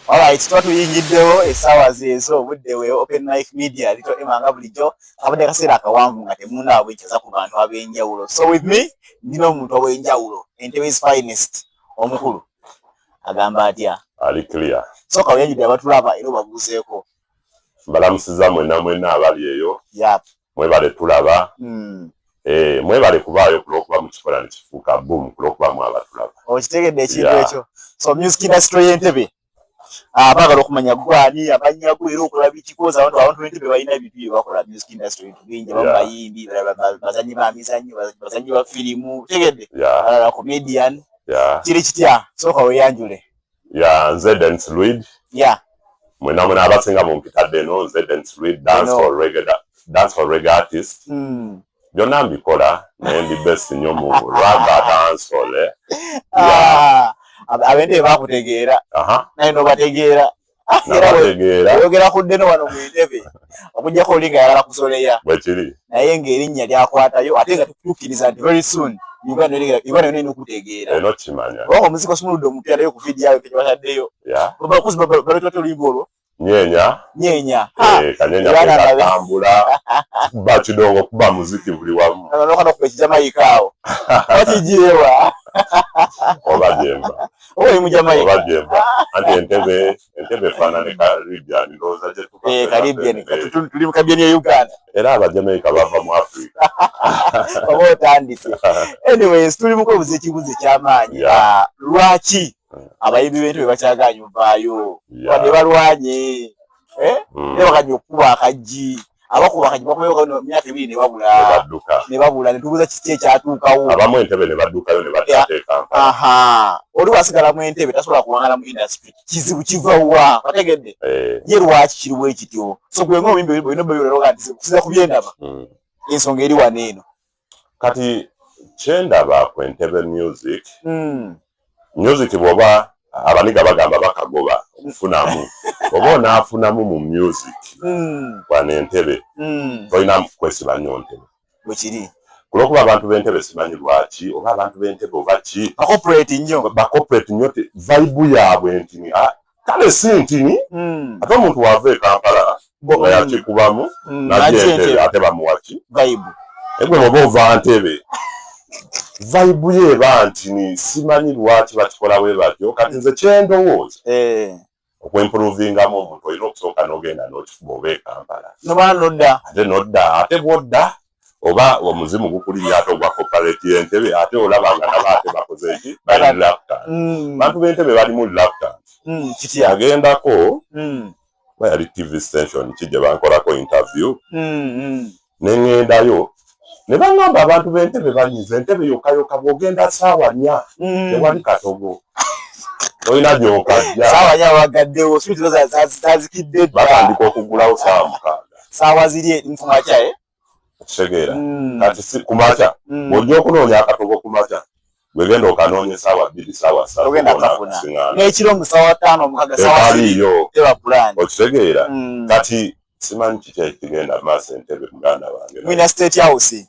Alright, tuba tuyingiddewo essaawa zeezo obudde we Open Life Media lito ema nga bulijjo kabadde kaseera akawanvu nga temundawa bwekyaza ku bantu ab'enjawulo so with me ndina omuntu ow'enjawulo Entebe's finest omukulu agamba atya ali clear so kawenjidde abatulaba era obabuuzeeko mbalamusiza mwena mwena abali eyo yep. mwebale tulaba hmm. eh, mwebale kubaayo kulwokuba mukikola nekifuuka bum kulwokuba mwaba tulaba okitegedde ekintu ekyo so music industry yentebe ah, bagala okumanya gwani abanyago era okola bikikoza abantu abantu bentebe balina ebintu byebakola music industry bintu bingi abamu bayimbi bazanyi ba mizanyo bazanyi ba firimu tegedde alala comedian kiri kitya sooka weyanjule ya nze dance lead ya mwena mwena abasinga mu mpita deno nze dance lead dance hall reggae dance hall reggae artist mm. byonna mbikola naye ndi best nyo mu ramba dance hall eh. ah, abende bakutegeera naye nobategeera era oyogera ku deno wano mu ntebe okujjako oli nga yalala kusoleya naye ng'erinnya lyakwatayo ate nga tukutuukiriza nti very soon uganda yona erina okutegeera kubanga omuziki osumuludde omuntu yalayo ku vidiyo awe kekibataddeyo bakuzi baletwate oluyimba olwo nyenya nyenya eh, kanyenya katambula bakidongo kuba muziki buli wamu nokana kuba ekijamaika awo okijirewa oba jemba oba jemba anti entebe entebe efaanane caribbean ndowooza gyetucaribbean eh, tuli mu caribbean ya uganda era abajamaica bava mu africa oba otandise anyways tuli mukubuza ekibuzo ekyamaanyi ah, lwaki hmm. abayimbi b'ente bwe bakyagaanyi ovaayo wadde balwanye eh? hmm. ne bakanya okukuba akajji abakuba kati bakomewo no myaka ebiri ne babula baduka ne babula ne tubuza kiki ekyatuukawo abamu entebe ne badukayo ne batateeka aha oli wasigala mu entebe tasobola kuwangala mu industry kizibu kiva wa bategedde eh. ye lwaki kiriwo ekityo so gwe ng'obimbi bino byoyolero kati kusiza ku byendaba hmm. ensonga eri wano eno kati kyendaba ku entebe music mm. music bwoba abaniga bagamba bakagoba okufunamu oba onaafunamu mu music mm. wana entebe mm. tolina kwesiba nyo ntebe bwekiri kulwokuba abantu bentebe simanyi lwaki oba abantu bentebe oba ki bakoperate nyo bakoperate nyo ti vaibu yaabwe ntini ah, kale si ntini hmm. ate omuntu wava e kampala nga hmm. yakikubamu hmm. najeentebe ate bamuwaki egwe oba ova ntebe vaibu ye eba ntini simanyi lwaki bakikola we batyo kati nze kyendowooza eh. okwempuluvingamu omuntu olina okusooka nogenda nokifuba oba e kampala noba nodda ate nodda ate bwodda oba omuzimu gukulinya ate ogwa kopareti yentebe ate olaba nga naba ate bakoze eki bali lapta mm. bantu bentebe balimu lapta mm, agendako mm. ba yali tv station ki gye bankolako interview nengendayo ne bangamba abantu bentebe banyiza entebe yokayoka bwogenda saawa nya tewali katogo olina gyokajja saawa nya wagaddewo sitazikidde batandika okugulawo saawa mukaaga saawa ziri eri mukumakya e okitegeera hmm. kati si kumakya hmm. bwojja okunoonya akatogo kumakya gwegenda okanoonya esaawa bbiri saawa saatuekiro musaawa taano omukaga saawaiyo okitegeera hmm. kati simanyi kiki ekigenda maaso entebe muganda wange mwina state house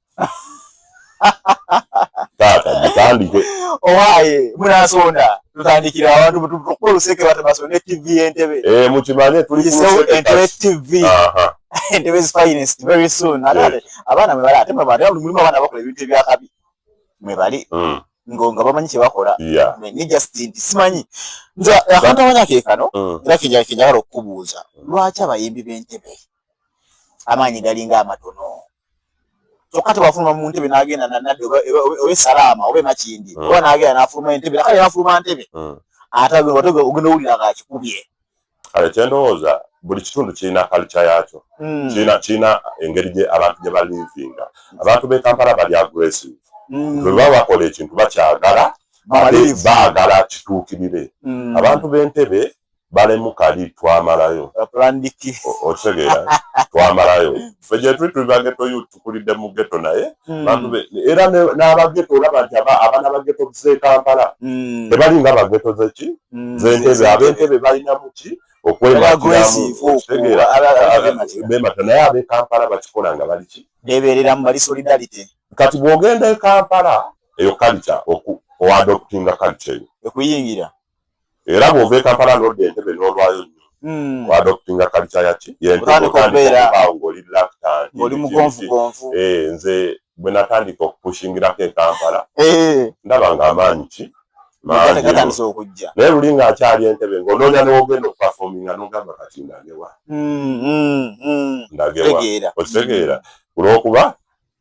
taata mutandike owaye munasonda tutandikira abantu tukuba oluseke batabasonda etv entebe eh, mukimanye tulientebe tv entebe zifinest very soon abaana mwebali ate mwebali mulimu abaana bakola ebintu ebyakabi mwebali hmm. ngo nga bamanyi kyebakola ne just nti simanyi nze akantu amanya kekano hmm. era kenjagala okukubuuza lwaki abayimbi b'entebe amaanyi galinga amatono kyokka tewafuluma mu ntebe n'agenda nanadde oba esalaama oba emakindi hmm. oba n'agenda n'afuluma entebe nakale n'afuluma ntebe hmm. ate ogenda owulira nga akikubye kale kyendowooza buli kitundu kirina kalca yaakyo hmm. kirina kirina engeri gye abantu gye balivinga abantu b'e kampala bali aggressive bwe baba bakola ekintu bakyagala ate baagala kituukirire abantu b'entebe balemu kali twamalayo otegeera twamalayo fe gyetuli tuli bageto yu tukulidde mu geto naye hmm. bantu be era n'abageto olaba nti abaana bageto z'ekampala hmm. tebali nga bageto zeki hmm. zentebe abentebe balina muki okwematiramuotegeerabemata naye abekampala bakikola nga baliki bebereramu bali solidarity kati bwogenda ekampala eyo kalita oadoptinga kalita eyo ekuyingira era bw'ova e Kampala n'odda Entebbe n'olwayo nnyo hmm. adoptinga kalica yaki yentebeawo ng'oli laktanoli mugonvugonvu eh, nze bwe natandika okupushingirako e Kampala eh. ndaba ng'amaanyi ki naye luli ng'akyali Entebbe ng'onoonya n'ogenda okupafominga n'ogamba kati ndagewa hmm, hmm, ndagewa okitegeera olw'okuba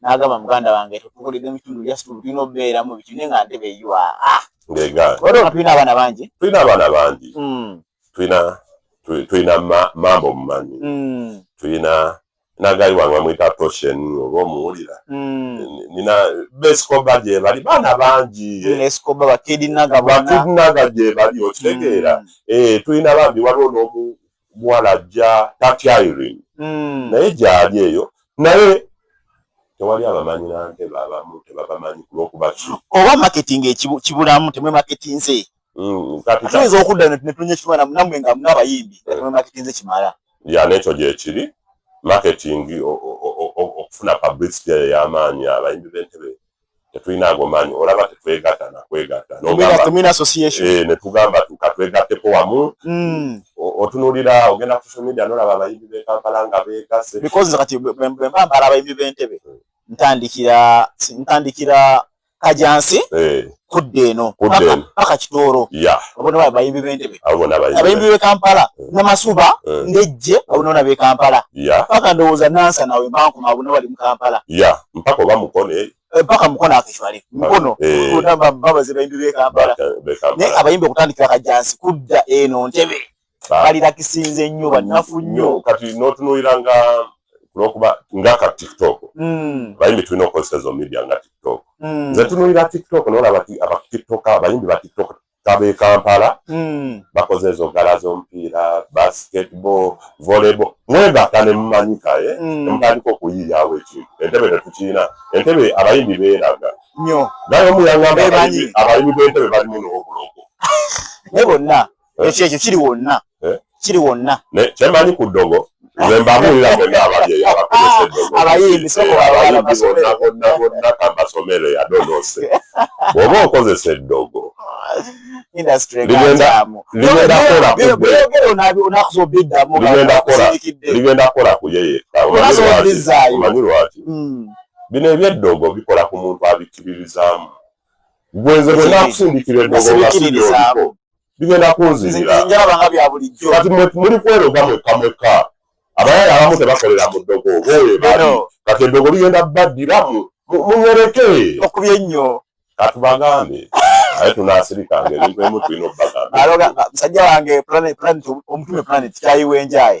nagamba muganda wange tukukolede mukitundu just tulina obeeramu biki naye nga ntebe yua ah! ngegaoa tulina abaana bangi tulina abaana bangi hmm. tulina tulina mambo mumanyi hmm. tulina nagali wange bamwita toshen oba omuwulira hmm. nina beskoba gyebali baana bangi bakidinaga gyebali okitegeera eh, tulina bambi waliwo n'omu omuwala ajja tatya Irene mm. naye gyali eyo naye tewali abamanyi nante babamu tebabamanyi kulwokuba ki oba marketing ekibulamu temwe marketinze mm, tuyinza okudda netunya ekimala namwe nga munabayimbi mm. temwe marketinze kimala ya nekyo gyekiri marketing okufuna publicity eyo eyamaanyi abayimbi bentebe tetulina ago maanyi olaba tetwegatta nakwegatta eh, netugamba tukatwegatteko wamu hmm. otunulira ogenda social media nolaba abayimbi bekampala nga bekase because kati bwembambala abayimbi bentebe hmm. ntandikira ntandikira kajansi eh. kudda eno paka kitooro abona bayimbi bentebe abayimbi bekampala eh. namasuba ndejje abona bekampala paka ndowooza nansanawe mankuma abona bali mukampala yeah. mpaka oba mukono eh? Eh, mpaka mukono akishwale mukono kutamba baba ze bayimbi be Kampala ne abayimbi okutandikira kajansi kudda eno ntebe ah. bali lakisinze nnyo banafu nnyo kati notunuyira nga kulokuba nga ka TikTok mm. bayimbi tulina okukozesa ezo media nga TikTok mm. nze tunuyira TikTok nolaba aba TikTok abayimbi ba TikTok kaba e kampala hmm. bakoze ezo gala z'omupiira basketball volleyball mwebaka ne mumanyika e eh? hmm. nemutandika okuyiyawo ekintu entebe tetukirina entebe abayimbi beeraga nyo naye omuyangamba abayimbi b'entebe balimu n'obulogo ne bonna eh? ekyo ekyo kiri wonna eh? kiri wonna kyemanyi ku ddogo nze mbabuulira bonna ababyeyi abakozesebonnabonna kambasomere yadonose bwoba okozesa eddogo ligenda kola kuyeyekaomanyi lwaki hmm. bino ebyeddogo bikola ku muntu abikkiririzaamu gwenze bonna akusindikira eddogo bigenda kunzirira kati muli kweroga mwekka mwekka abayala abamu tebakolera mu ddogo oba oyo bali kati eddogo ligenda baddira muwereke okubye nnyo katubagambe aye tunasirikanga ebintu emu tulina obubagambmusajja wange omutume planet kyayiwenjaye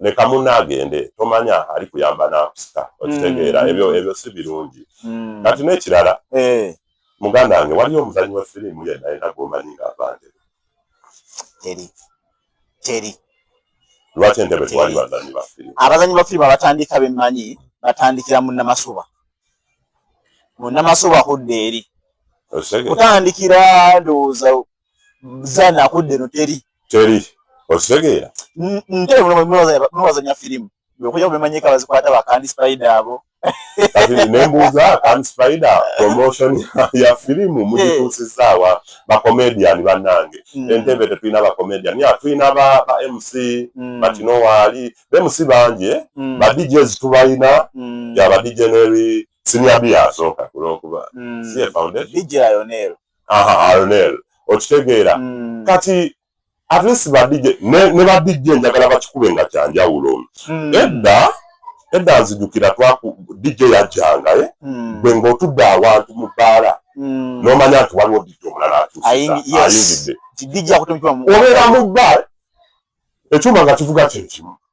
leka munno agende tomanya ali kuyamba nakusika okitegeera mm. ebyo ebyo si birungi mm. kati n'ekirala eh. muganda wange waliyo omuzanyi wa firimu yenna yena gwomanyi nga avande teri teri lwaki entebe tewali bazanyi ba firimu abazanyi ba firimu abatandika bemmanyi batandikira mu namasuba mu namasuba kudda eri kutandikira ndowooza zana akudde no teri teri okitegeera nte mulowazanya firimu okuja kumemanyika bazikwata bakandi spider abo nembuuza kandi spider promotion ya firimu mugituusizaawa bacomedian bannange hmm. entebe tetulina bacomedian ya tulina ba mc hmm. batino waali ba mc bangi eh? hmm. ba djs tubalina ya ba dj neri siniabiyasoka kulwokuba si foundation aha Arnel okitegeera mm. kati at least ba DJ ne, ne ba DJ njagala bakikube nga kyanjawulo mm. edda edda nzijukira twaku DJ yajjanga eh? mm. gwe ng'otudde awantu mu bbaala mm. n'omanya nti waliwo DJ omulala atuusiayingidde obeera mu bbaala ekyuma nga kivuga kyekimu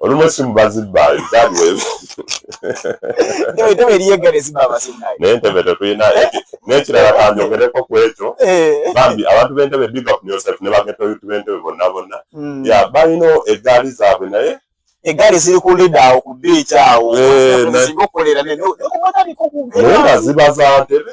olumu esimu bazibba nentebe tetulina nekirala kanjogereko ku ekyo eh. bambi abantu bentebe big up yourself ne bagetoyuti bentebe bonna bonna hmm. ya balina egaali zaabwe naye egaali ziri ku lida awo ku biici awo eh, zibaza ntebe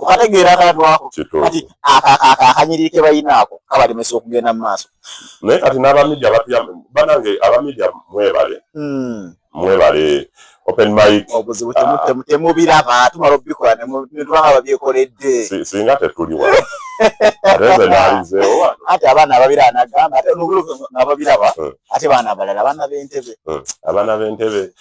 okategeera akantu ako kati akanyiriri ke balina ako kabalemesa okugenda mu maaso naye kati n'abamidia batya banange abamidia mwebale hmm. mwebale open mic obuzibu ah. temubiraba tumala obikola netubanga babyekoledde singa tetuli wa ate abaana ababiraba nagamba ate nababiraba hmm. ate baana abalala abaana b'entebe hmm. abaana b'entebe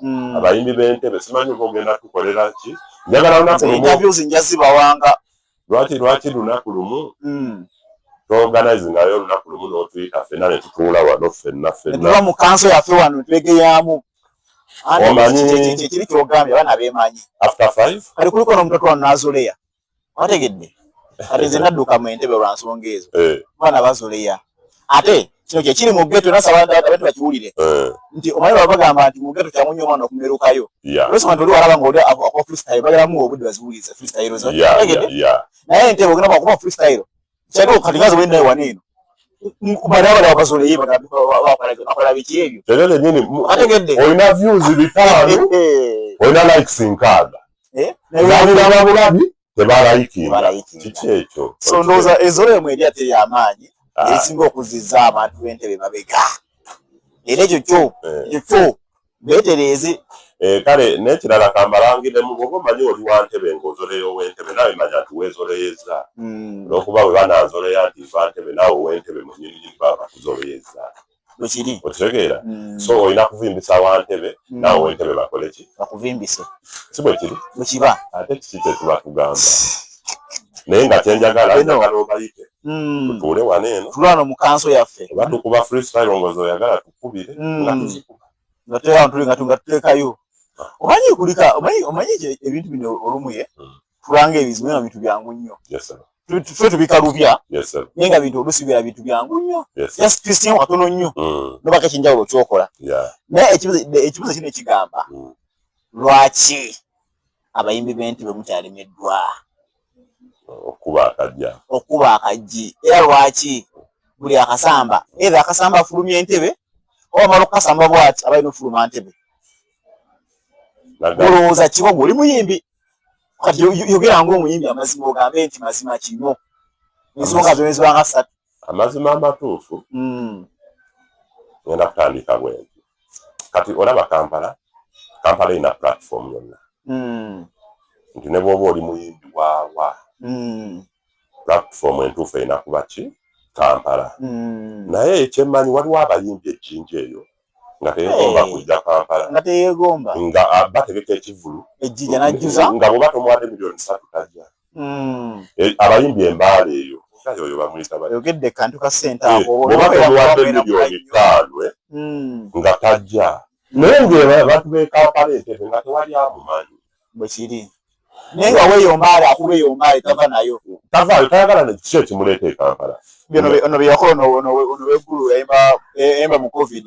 mm. abayimbi b'entebe simanyi oba ogenda tukolera ki njagala lunaku lumu nja zibawanga lwaki lwaki lunaku lumu mm. tooganize nayo olunaku lumu n'otuyita fenna ne tutuula wano fenna fenna mu kanso yaffe wano twegeyaamu omanyi kiri kyogambye abaana beemanyi after five kali kulikono omutoto wano n'azuleya wategedde kati nze nadduka mu entebe lwa nsonga ezo eh. bana bazoleya ate kino kyekiri mu geto nasabantu bakiwulire eh. nti omanyi baba bagamba nti mu geto kyamunyo omwana okumerukayo lwesoma nti oli walaba nga oli akuba freestyle bageramu obudde baziwulize freestyle naye entebe ogenda bakuba freestyle Kyagala kati bazo wenda ewa neno. Kubala wala wabazo leye baka wapala biki ebyo. Kyagala nini? Atengende. Oina views bitano. Eh, eh. Oina likes nkaga. Eh? Nani na babulabi? Tebala iki. Tebala iki. Kiki ekyo. So ndoza ezole mwedi ate ya manyi. Ah. Esingo kuziza abantu entebe mabega. Ele jojo. Jojo. betereeze eh, kale nekirala kambalangiremu bwoba omanyi oli wa ntebe ngaozoleya owentebe nawe manya nti wezoleyeza hmm. olwokuba mm. webananzoleya nti va ntebe nawe owentebe munyini baba kuzoleyeza wekiri okitegeera hmm. so olina kuvimbisa wantebe hmm. nawe wentebe bakoleki bakuvimbise si bwekiri bwekiba ate kiki kyetuba tugamba naye nga kyenjagala njagala obayite hmm. tutuule wano eno tulano mukanso yaffe oba tukuba freestyle ngozi oyagala kubire mm. nga tuzikuba nga tuteka abantu nga tunga tutekayo omanyi kulika omanyi omanyi ebintu bino olumuye mm. tulanga ebizibu nga bintu byangu nnyo tufe tubikalubya naye nga bintu olusi bira bintu byangu nnyo just christian watono nnyo mm. nobaka ekyenjawulo kyokola naye ekibuzo kino ekigamba lwaki abayimbi b'entebe mukyalemeddwa okuba akajja okuba akajji era lwaki buli akasamba era akasamba afulumya entebe oba mala okukasamba bwati abalina okufuluma ntebe olowooza kiba gwe oli muyimbi kati yogera ngaomuyimbi amazima ogambe nti mazima kino ensonga zona ezibanga satu amazima amatuufu mm. ngenda kutandika bwenti kati olaba kampala kampala erina platform yonna hmm. nti ne bwoba oli muyimbi waawa hmm. platform entuufu erina kuba ki kampala hmm. naye ekyemmanyi waliwo abayimbi ejjinja eyo nga teyegomba eh. kujja kampala nga teyegomba nga bategeka ekivulu nga bwoba tomwadde miliyoni satu tajja hmm. eh, abayimbi embaala eyo oyo bamuyitabayogedde kantu ka sente eh, akobatemuwadde miliyoni ttaano eh? hmm. nga tajja naye ngabantu bekampala entebe nga tewali amumanyi bwekiri naye nga weyombaale akuba eyombaale tava nayo tavaayo tayagala nekiki ekimuleeta ekampala ono byeyakola ono wegulu yayimba mu covid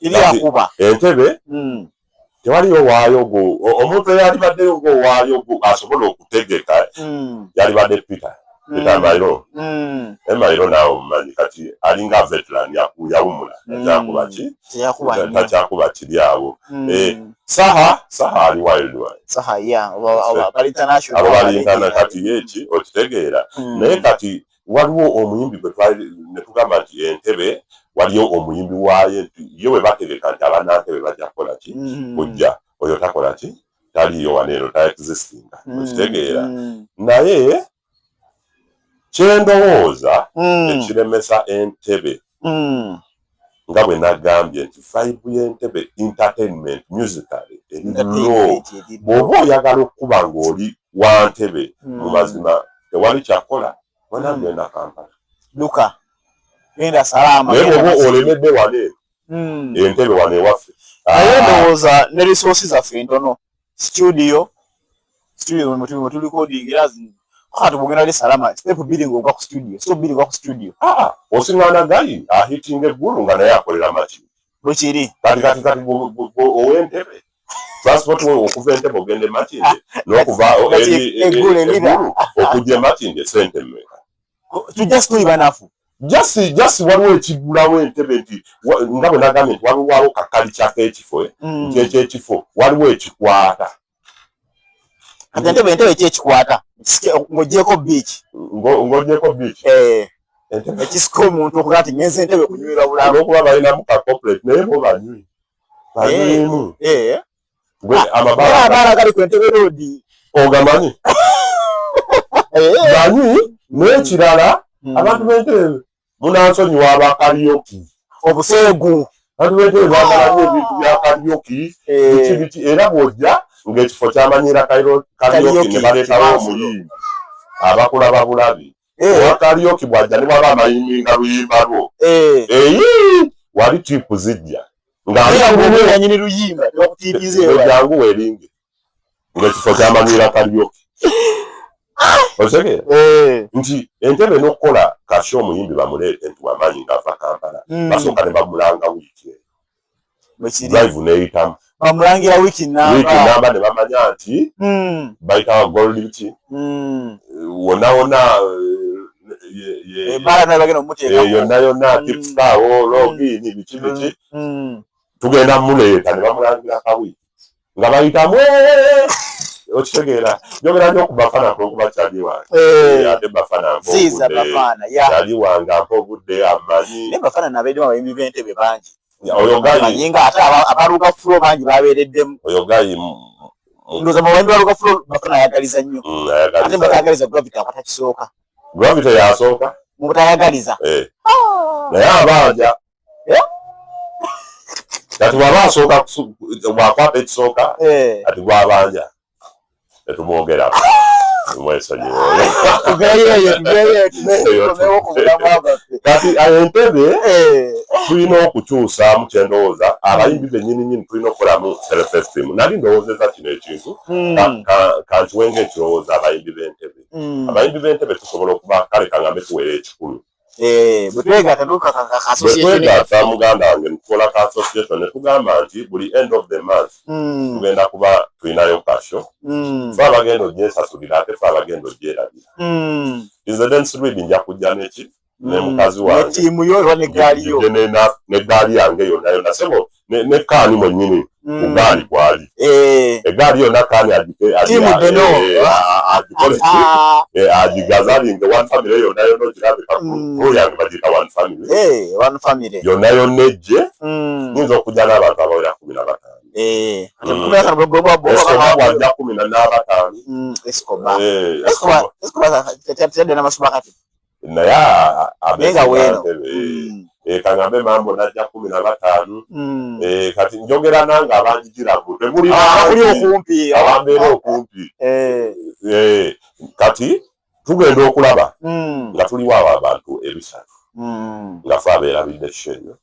iri akuba entebe mm. tewaliyo waayo gwo omuntu eyalibaddeyo ogwo waayo gwo asobola okutegeka mm. yalibadde peter mm. peter mairo mm. e mairo naawe omumanyi kati alinga veteran yawumula takyakubaki mm. takyakuba kiri awo mm. e, saha saha ali wildwabo bali internana kati yeki okitegeera mm. naye kati waliwo omuyimbi gwe twali ne tugamba nti entebe waliyo omuyimbi waayo nti yo bwe bategeka nti abanankebe bajja kukola ki mm-hmm. kujja oyo takola ki taliyo wano eno ta existinga mm-hmm. okitegeera naye kyendowooza mm. ekiremesa entebe Mm. nga bwe nagambye nti vibe y'entebe entertainment musically eri low bw'oba oyagala okukuba ng'oli wa ntebe mm. mu mazima tewali kyakola wena mm. genda kampala luka genda salaama naye bw'oba olemedde wano eno entebe wano ewaffe naye ah. ndowooza ne resource zaffe ntono studio studio mwemutubi mwetuli recording era zino kati kugenda ali salama step bbiri ng'ogwa ku studio step bbiri ngwa ku studio ah, ah. osingana gali ahitinga eggulu nga naye akolera maki bwekiri kati kati kati ow'entebe transport wo okuva entebe ogenda emakinde n'okuva eggulu okujja emakinde sente mmeka tujastuibanafu just just waliwo ekigulawo entebe nti nga bwe nagambye nti waliwawo kakali kyako ekifo eh? mm. nti ekyo ekifo waliwo ekikwata ate entebe entebe ki ekikwata ng'ogyeko biiki ng'ogyeko biiki eh. ekisika omuntu okuga nti ngenza entebe kunywera bulala olwokuba balinamu ka corporate naye bo banywi banywimu eh. gwe ah, amabala amabala gali ku ntebe road ogamanyi bani eh. n'ekirala hmm. abantu b'entebe munansonyiwa abakalyoki obuseegu abantu b'entebe bagala nyo ebintu bya kalyoki eh. biki biki era bw'ojja ng'ekifo kyamanyira kalyoki ne baleetawo omuyimbi abakulaba bulabi eh. owa kaliyoki bwajja ne bwaba amayiminga luyimba lwo eh. eyi wali tipu zijja nganyini luyimba jangu weringe ngaekifo kyamagwira kaliyoki ah! osege nti entebe nokukola kasha omuyimbi bamuleete nti wamanyi ngaava kampala hmm. basooka ne bamulanga wiiki drive neyitamu bamulangira wiki namba ne bamanya nti hmm. bayita gold ki hmm. wona wona yonna yonna tipsitaawo logiini biki biki tugenda muleeta ne bamulangira kawiki nga bayitamu okitegeera njogera nyo ku bafana kulwokuba kyali wange eh. eh, ate bafana mpokyali wange ampa obudde amanyi bafana nabeddemu abayimbi b'entebe bangi oyo gayi nga ate abaluga fulo bangi babeereddemu oyo gayi ndoza mawembe aluga fulo bafana ayagaliza nnyo mm, ate batayagaliza gravity akwata kisooka gravity yasooka mubutayagaliza eh. ah. naye abanja eh? kati bwaba asooka bwakwata ekisooka eh. ati gwabanja tetumwogerako kati entebe eh. tulina okukyusaamu kyendowooza abayimbi benyini nyini tulina okukolamu selfestim nali ndowoozeza kino ekintu hmm. kankiwenga ekirowooza abayimbi bentebe hmm. abayimbi bentebe tusobola okuba kale kangambe tuweera ekikumi Eh, bwetwegatta muganda wange ntukola ka association netugamba nti buli end of the month hmm. tugenda kuba tulinayo kasho hmm. fe abagenda ogyesasulira ate fe abagenda ogyerabira hmm. izedensirid nja kujja neki nemukazi wangeneggaali yange yonayona sebo ne kaani mwennyini mm. ugaali gwali eh. egaali yonna kaani agigazalinge one family yonna yonna ogirabika rule yange bagiyita one family eh, yonna yonna ejje mm. nyinza okujja n'abantu abawera kumi na batano Eh, kumi na n'abataano mm, naye abenga weno mm. eh, kangambe mambo najja kumi na batano mm. eh, kati njogera nange abanjijira mbu temuli ah, okumpi abambeera okumpi eh. kati tugenda okulaba mm. nga tuliwo abo abantu ebisatu nga fe abeerabidde kishenyo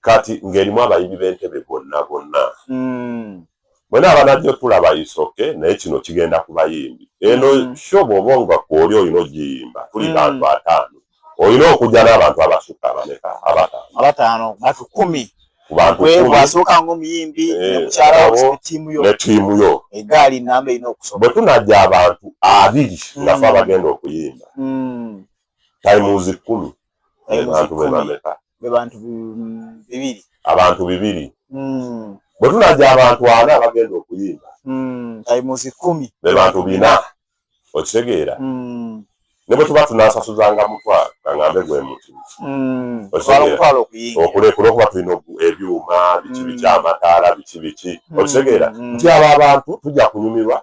kati ng'erimu abayimbi b'entebe bonna bonna mm. mwena abanajjo tulaba isoke naye kino kigenda ku bayimbi eno mm. sho bwoba nga kwoli olina ogiyimba tuli mm. bantu ataano olina okuja n'abantu abasukka abaneka abataano bantu kumi kubantubwasooka ngaomuyimbi eh, netiimu yo egaali namba erina okusoma bwe tunajja abantu abiri nga fe abagenda okuyimba mm. times kumi naye bantu be bameka be bantu mm, bibiri abantu bibiri mm. bwe tunaja abantu ana abagenda okuyimba mm, taimuzi kumi be bantu bina okitegeera mm. ne bwe tuba tunasasuzanga mutwalo kaŋambe gwe muti mm. okulekula okuba tulina ebyuma biki biki mm. amataala biki biki mm. okitegeera mm. nti abo abantu tujja kunyumirwa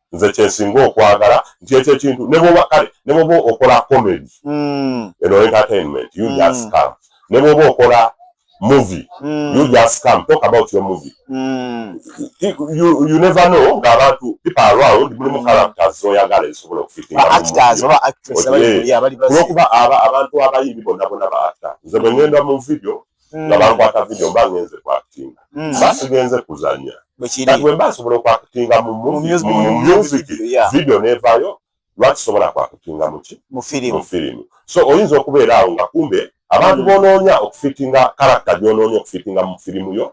nze kyensinga okwagala nti ekyo ekintu nebwoba kale nebwoba okola comedy mm. eno entertainment you mm. just come nebwoba okola movie mm. you just come talk about your movie mm. you, you never know nga abantu people around mulimu mm. characters zoyagala ezisobola okufitingaolwokuba abantu abayimbi bonna bona baata nze bwengenda mu video hmm. nga bankwata video mba ngenze kwakutinga hmm. mba sigenze kuzanya kati bwemba nsobola okwakutinga mu music video nevayo lwaki sobola kwakutinga muki mu firimu so oyinza okubeera awo nga kumbe abantu bonoonya okufitinga karakta gyonoonya okufitinga mu firimu yo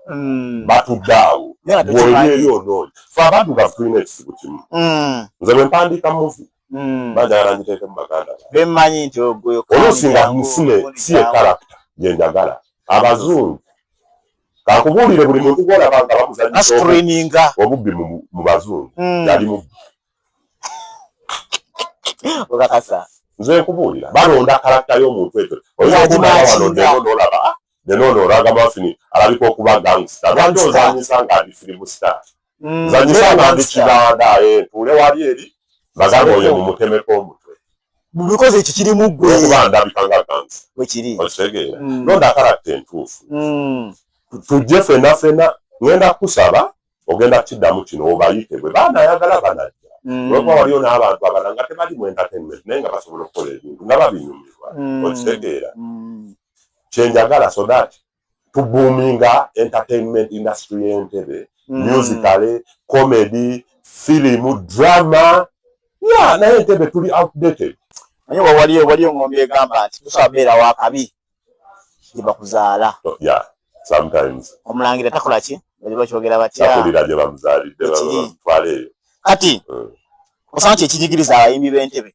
batudde awo bwolyeyo onoonya fe abantu nga tulina ekizibu kimu nze bwempandiika muvi mm. bajagala ngiteeke mu baganda bemanyi nti oluusi nga mufune si ye karakita gyenjagala abazungu kakubuulire buli muntu gwolaba nga bamuzanyisaobubbi obubbi mu bazungu mm. yali mubbi nze nkubuulira balonda karakita y'omuntu ekyo oyinza okunaaba wano ndeeno nolaba ah, nenono olaga mafini alabika okuba gangsta lwaki ozanyisa nga ali firimu star mm, zanyisa abantu kibanda eh, tuule wali eri bagamba oyo mumutemeko omutwe because ekyo kiri mu ggwe okuba ndabika nga gansi wekiri okitegeera mm. londa akarakta entuufu mm. tujje fena fena ngenda kusaba ogenda kukiddamu kino obayite bwe baana ayagala banajja lwokuba waliyo n'abantu abala nga tebali mu entertainment naye nga basobola okukola ebintu nga babinyumirwa okitegeera kyenjagala so that tubuuminga entertainment industry y'entebe mm. musicale comedy filimu drama ya naye entebe tuli outdated naye wawaliyo waliyo ngombi egamba nti tusobola beera wakabi gyebakuzaala oh, yeah sometimes omulangira takola ki bali bakyogera batya takulira gye bamuzaalidde batwala eyo kati mm. osanga kyekinyigiriza abayimbi b'entebe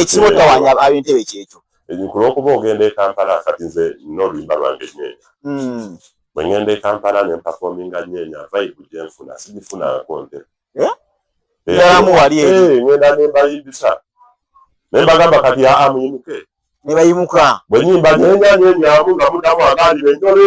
ekimu tawanya abentebe kyekyo kulwokuba ogenda ekampala kati nze noluyimba lwange nyenya hmm. bwengenda ekampala nempafominga nyenya vaibu gyenfuna sigifunanko nte eh? eh, eh, ngenda nembayimbisa nembagamba kati aa muyimuke nebayimuka bwenyimba nyenya nyenyamu nga mudamu agandibe njole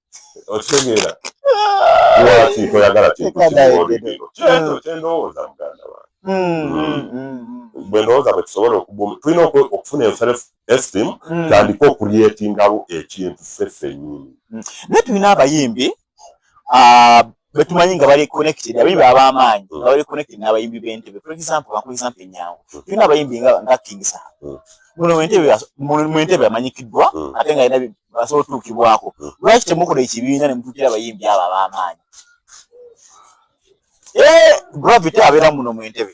okitegeera lwaki toyagala kintu kimuwolekero kyekyo kyendowooza muganda wange bwe ndowooza bwe tusobola okubumu tulina okufuna enself esteem tandika okurietingawo ekintu ffe ffenyini naye tulina abayimbi betumanyi nga bali connected abayimbi ab'amaanyi nga bali connected n'abayimbi b'entebe for example bakuwa example enyangu tulina abayimbi nga nga king saha muno mwentebe mwentebe amanyikiddwa ate nga yina basobola otuukibwako lwaki temukola ekibiina ne mutuukira abayimbi abo ab'amaanyi eh, gravity abeera muno mwentebe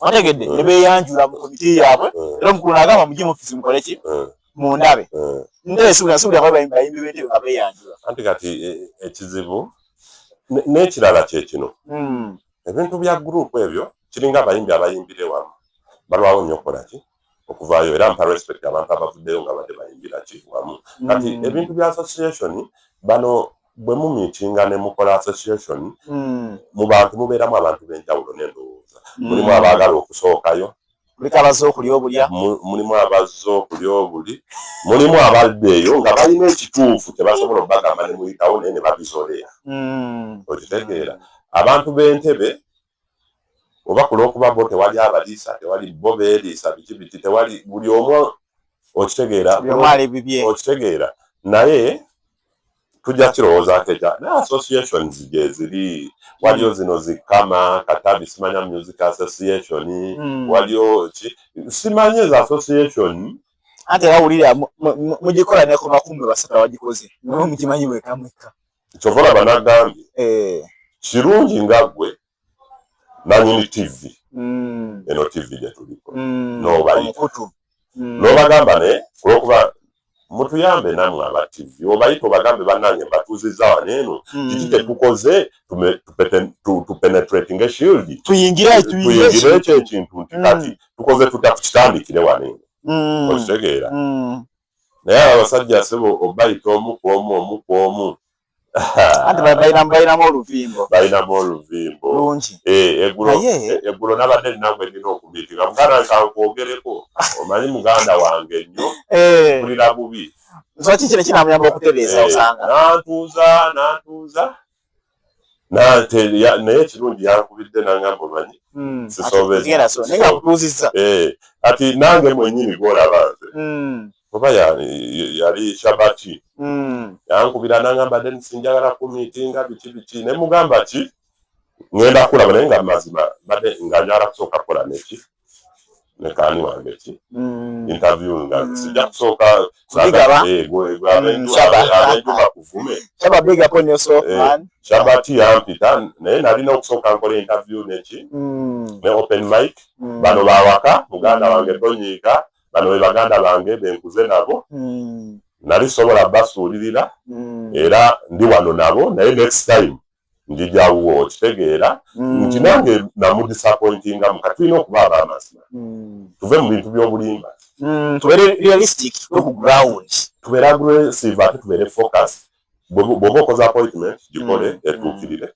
wategedde mm. nebeyanjula mu komiti yaabwe mm. era omukulu nagamba mugye mufisi mukole ki mm. mundabe ndesuulasubulabayimbibetewe nga beyanjula anti kati e, ekizibu n'ekirala kye kino ebintu bya guruupu ebyo kiringa abayimbi abayimbire wamu balwawo nnyo okukola ki okuvaayo era mpa respect abantu abavuddeyo nga badde bayimbira ki wamu kati mm. ebintu bya association bano bwe mu miitinga ne mukola association mm. mu bantu mubeeramu abantu b'enjawulo n'endowooza mm. mulimu abaagala okusookayo muliko abazze okulya obulya mulimu abazze okulya obuli mulimu abadde eyo nga balina ekituufu tebasobola okubagamba ne muyitawo naye ne babizolera okitegeera abantu b'entebe oba ku lw'okuba bo tewali abaliisa tewali bo beeriisa biki biki tewali buli omu okitegeera okitegeera naye tujja kirowoozaako ekya naye associations gyeziri waliyo hmm. zino zikama katabi simanya music association hmm. waliyo ki simanyi ezo association anti era wulira mugikola nekumakumbe basatu abagikoze nawe mukimanyi wekamwekka kyova olaba nagambye eh. kirungi nga gwe nanyini tv mm. eno tv gyetuliko mm. nobayita mm. nobagamba ne olwokuba mutuyambe namwe aba tv obayita obagambe banange mbatuuziza wano eno mm. kiki kyetukoze tupenetrating eshield tuyingire ekyo ekintu nti kati tukoze tutya kukitandikire wano eno okitegeera naye abo abasajja sebo obayita omu ku omu omu ku omu anti balinamu oluvimbo balinamu oluvimbo lungi eh, eggulo eh, nabadde ninaku enina okubiitika muganda nkakwogereko omanyi muganda wange nnyo eh. kulira bubi nsoki kino kinamuyamba okutereeza osanga nantuuza nantuuza naye ekirungi yankubidde nangamba omanyi hmm. sisobezza eh, kati nange mwenyini gwolaba nze hmm. oba yali shabati hmm. yankubira nangamba denis njagala kumitinga biki biki nemugamba ki ngenda kulaba naye nga mazima mbadde nga njagala kusooka kukola neki nekani wange ki mm. interview nga mm. sija kusooka shabati eh, yampita naye nalina okusooka nkola interview neki mm. ne open mic bano bawaka muganda wange tonyiika bano be baganda bange benkuze nabo nali sobola basuulirira era ndi wano nabo naye next time njijawuwo okitegeera mm. nti nange namudisappointinga muka tulina okuba abamazima mm. tuve mu bintu by'obulimba mm, tubeere realistic ku ground tubeere aggressive ate tubeere focus bwoba okoze appointment gikole etuukirire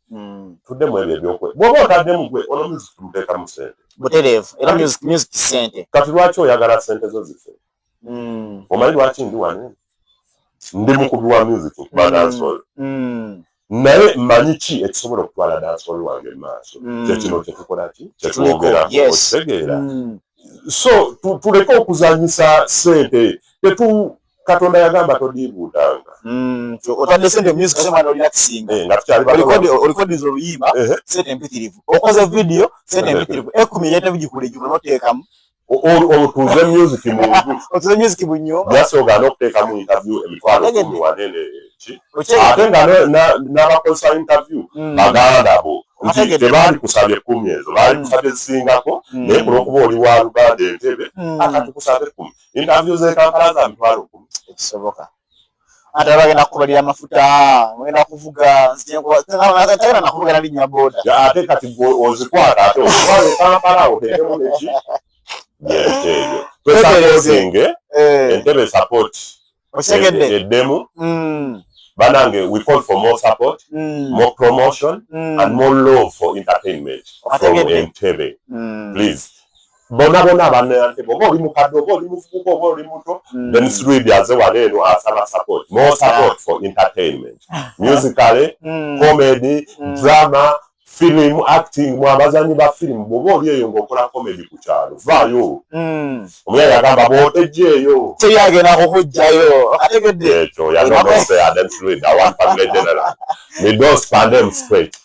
tuddemu ebyo ebyokwe bwoba otaddemu gwe ono music tumuteekamu sente butereevu era music sente kati lwaki oyagala sente zo zifee mm. omanyi lwaki ndi wano ndi mukubi wa music nkuba mm. dansol mm. naye manyi ki ekisobola okutwala dansol wange maaso kyekino kyetukola ki kyetwogera okitegeera so tuleke okuzanyisa sente tetu katonda yagamba todiibuudanga mm, otadde sente music ate mwana olina kisinga eh, nga tukyaliolikodinza oluyimba sente mpitirivu okoze vidiyo sente mpitirivu ekumi yetabigikulejuma noteekamu otuze music munju otuze music munyumba yasi ogana okuteeka mu interview emitwalo kumi wanene ki ate nga n'abakozesa interview hmm. baganda bo nti tebaali kusabye kumi ezo baali hmm. kusabye zisingako hmm. naye kuno okuba oli wa luganda entebe akati kusabye kumi interview zekankala za mitwalo kumi ekisoboka ate abagenda kukubalira amafuta ngenda kuvuga nzitagenda nakuvugana linnya boda ate kati ozikwata ate ozitwale kampala otekemu neki nyenteeyo twesakozinge eh. entebe support okitegedde eddemu mm. banange we call for more support mm. more promotion mm. and more love for entertainment from entebe please bona bona abana ya ntebe oba oli mukadde oba oli muvubuka oba oli muto mm. then sruidi aze wala eno asaba support more support for entertainment musically mm. comedy mm. drama film acting mu abazanyi ba film bwoba oli eyo ngaokola comedy ku kyalo vaayo mm. omuyaya agamba bwotejeeyo teyagenda kukujjayo ekyo yanonose aden sruidi awan family general midos pandem straight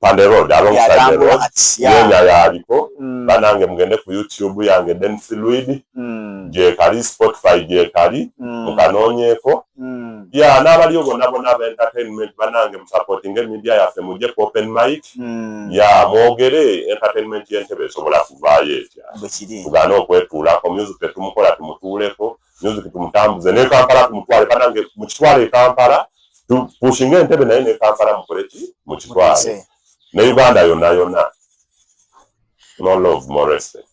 Pande Road alongside the road yenya yaliko mm. banange mugende ku YouTube yange Den Fluid mm. gyekali Spotify gyekali mm. mukanonyeko mm. ya yeah, n'abaliyo bona bona aba entertainment banange musupporting media yaffe mujje ku open mic mm. ya yeah, mwogere entertainment y'entebe esobola kuvaayo etya tugane okwetuulako music tetumukola tumutuuleko music tumutambuze ne Kampala tumutwale banange mu kitwale e Kampala pushinge entebe naye ne Kampala mukole ki mu kitwale ne Uganda yonna yonna no love more respect